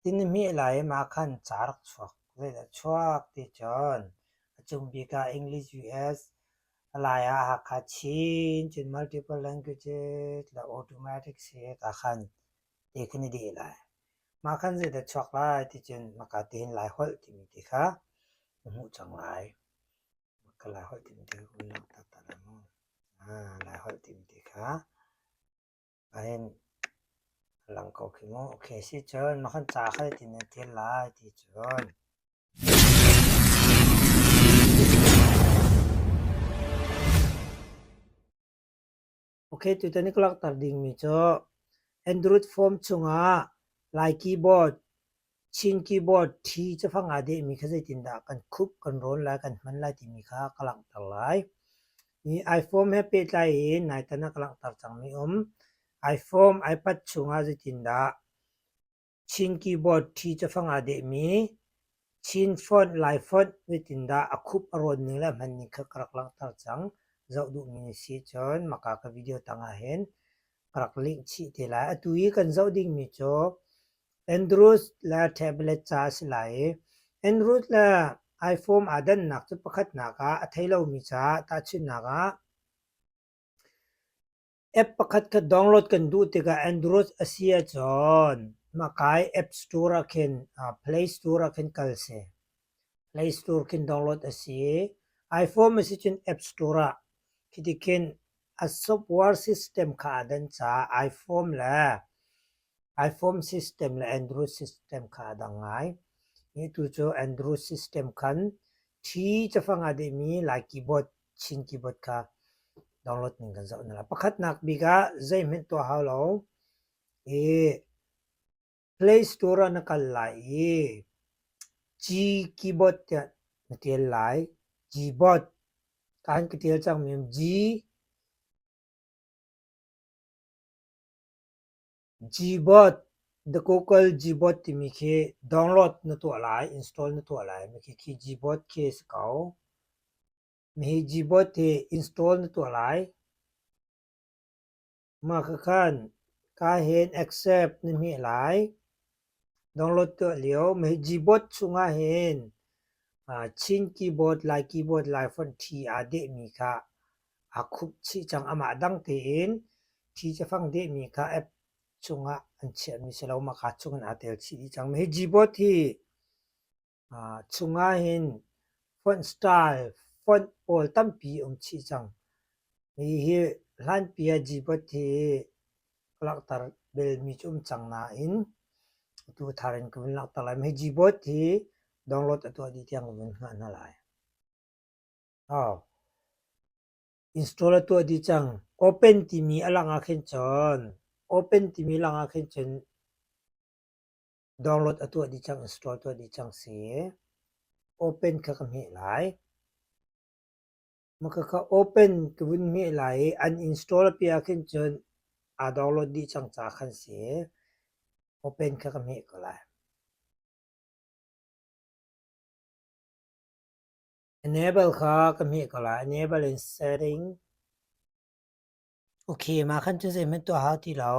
Inn a hmeh lai im ah khan ca rak chuak. Zeidah chuak ti cun a cung bik ah English, US a lai ah Hakha Chin-Chin Multiple Languages le Automatic State ah khan ti kan i deh lai. Mah khan zeidah chuak lai ti cun maka tein Lai Holh timi ti kha na hmuh cang lai. Maka Lai Holh timi ti kha kun laktak ta lai maw? Lai Holh timi ti kha A in a lang ko khi mu. Ok, si cun na hun ca kha zeitin na ṭial lai ti cun. Ok, tutan i ka langhter dingmi cu Android phone chungah Lai keyboard Chin keyboard thi cafang aa dehmi kha zeitindah kan khup, kan rawn lai, kan hman lai timi kha ka langhter lai. Hi iPhone he pehtlai in naitan ah ka langhter cangmi um. iPhone, iPad chungah zeitindah Chin keyboard thi cafang aa dehmi Chin font, Lai font zeitindah a khup, a rawn ning le a hman ning kha ka rak langhter cang. Zoh duhmi na si cun maka ka video tangah hin ka rak link chih te lai. Atu i kan zoh dingmi cu Andrews le tablet ca a si lai i Andrews le iPhone aa dannak cu pakhatnak ah a thei lomi ca tahchunhnak ah app pakhat kha download kan duh tikah Android a si ahcun mahkai App Store ah khin Play Store ah khin kal si. Play Store khin download a si. iPhone a si cun App Store ah khiti khin a software system kha aa den caah iPhone le iPhone system le Android system kha a dang ngai. Hi tu cu Android system khan T cafang aa dehmi Lai keyboard, Chin keyboard kha download ning kan zoh hna lai. Pakhatnak bik ah zeihmanh tuah hau lo. Hi Play Store ah na kal lai i G keyboard tiah na tial lai. Gboard kaan ka tial cangmi G Gboard The Google Gboard timi khi download na tuah lai, install na tuah lai. Mi khi khi Gboard khi a si ko. Mi hi Gboard hi install na tuah lai. Mah ka khan kaa hen accept na hmeh lai. Download tuah lio meh keyboard chungah hin Chin keyboard, Lai keyboard, Lai font ṭhi aa dehmi kha aa khup chih cang. Amah dang tein ṭhi cafang dehmi kha app chungah an chiahmi si lo. Mah kaa chungin aa tel chih dih cang. Meh keyboard hi Chungah hin font style font pawl tampi um chih cang. Hihi hlanpi ah G-Pod hi langhter belmi cu um cang nain atu thar in ka vun langhter lai. Hi G-Pod hi download a tuah dih tiang ka vun hngah hna lai. Install a tuah dih cang. Open timi a langah khin cun open timi langah khin cun Download a tuah dih cang, install tuah dih cang si. Open kha ka hmeh lai. Maka kha open ka vun hmeh lai i an install a pia khin cun aa download dih cang ca khan si. Open kha ka hmeh ko lai. Enable kha ka hmeh ko lai. Enable in setting. Okay, mah khan cu zeihmanh tuah hau ti lo.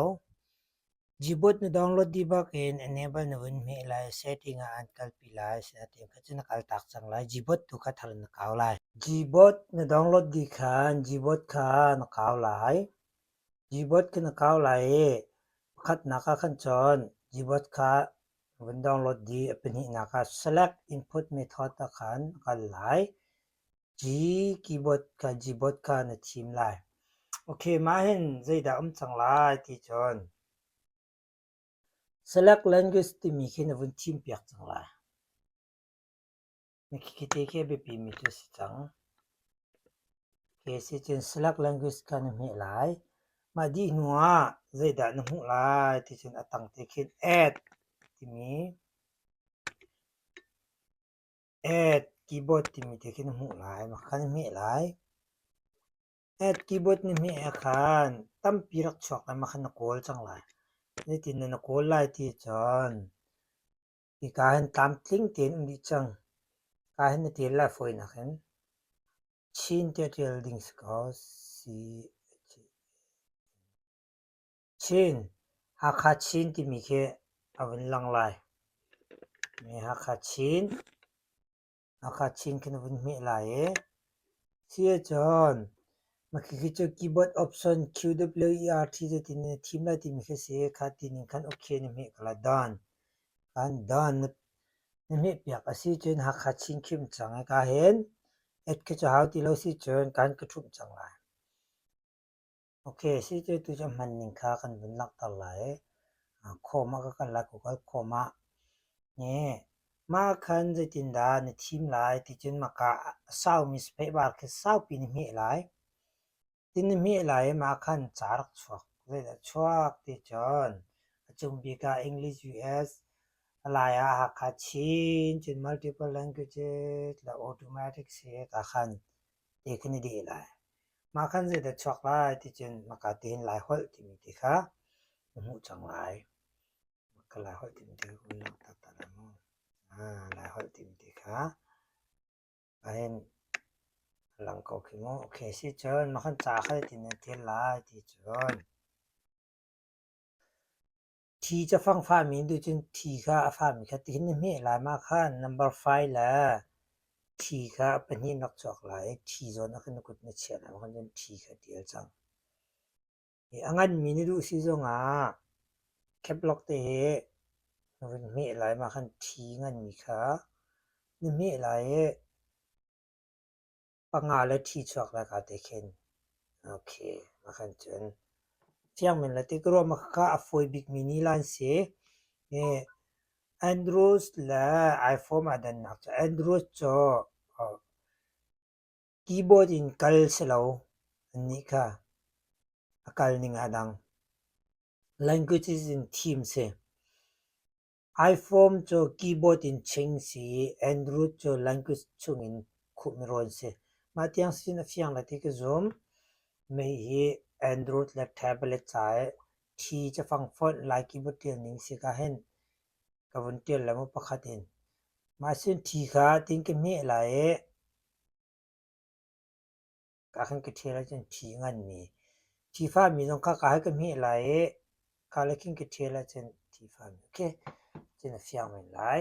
Jibuot na download dibak in enable na vun hmeh lai, setting ah an kalpi lai, asinain kha cu na kaltak cang lai. Jibuot tu kha thar na kau lai. Jibuot na download di khan, jibuot kha na kau lai. Jibuot kha na kau lai i, pakhatnak ah khan cun jibuot kha vun download di, a pahnihnak ah select input method ah khan kal lai. Hi keyboard Gbotka ka na thim lai. Ok, mah hin zeidah um cang lai ti cun select language timi khi na vun thim piak cang lai. Na khikhite khi a biapi mi cu si cang. Ok, si cun select language ka na hmeh lai. Mah dih hnu ah zeidah na hmuh lai ti cun a tang te khin add timi Add keyboard timi te khin hmuh lai. Maka kan hmeh lai. Add keyboard na hmeh ah khan tampi rak chuak lai. Maka na kawl cang lai. Nitin na na kawl lai ti cun hika hin tlamtling tein um dih cang. Ka hin na tial lai fawi nak hin Chin tiah tial ding si ko. C. Chin Hakha Chin timi khi a vun lang lai. Hakha Chin Hakha Chin khi na vun hmeh lai i si ahcun mah khi khi cu keyboard option QWERT zeitin na thim lai timi khi a si. Kha ti ning khan okay na hmeh ko lai. Don kan don na hmehpiak a si cun Hakha Chin khim cang i ka hin et khi cu hau ti lo si cun kan ka ṭhumh cang lai. Ok, sitetu cu hman ning kha kan vun langhter lai. Khawm ah ka kal lai, ka kal khawm ah. Ne, mah khan zeitindah na thim lai ticun maka saumi sipehbar khi saupi na hmeh lai. Tin na hmeh lai i mah khan ca rak chuak. Zeidah chuak ticun a cung bik ah English, US, a lai ah Hakha, Chin cun multiple languages la automatic si ka khan te khi na deh lai. Mah khan zeidah chuak lai ticun maka tein Lai holh timi ti kha na hmuh cang lai. Maka Lai holh timi ti kha kun lang taktak dah mu. Lai holh timi ti kha ahin lang ko khi mu. Okay sicun mah khan ca kha tinan tial lai ticun Thi cu a fang fahmi nih cun thi kha a fahmi kha tihin na hmeh lai, mah kha number five le thi kha a pahnih na rak chuak lai i thi zawn ah khan na kut na chiah lai, mah khan thi kha a dir cang. I a nganmi na duh si zongah keplock te hi na vun hmeh lai, mah khan thi nganmi kha na hmeh lai i panga le thi chuak le ka te khin okay mah khan cun fiang men le tikruah mah kha a fawi bikmi ni lan si andrews le iphone ah dannak cu andrews cu keyboard in kal si lo annih kha a kal ning a dang languages in theme si Ifom cu keyboard in ching si i Andrew cu language chungin khuhmi rawn si. Mah tiang sin a fiang le ti ka zum. Mei hi Android le tablet ca i thi ca fang fonh lai keyboard ṭialning si ka hin ka vun ṭial le mu pakhat in. Mah sin thi kha ting ka hmeh lai i ka kan ka ṭhial ahcun thi a nganmi, thi fahmi zong kha ka hei ka hmeh lai i ka le khin ka ṭhial ahcun thi fahmi khi cun a fiang men lai.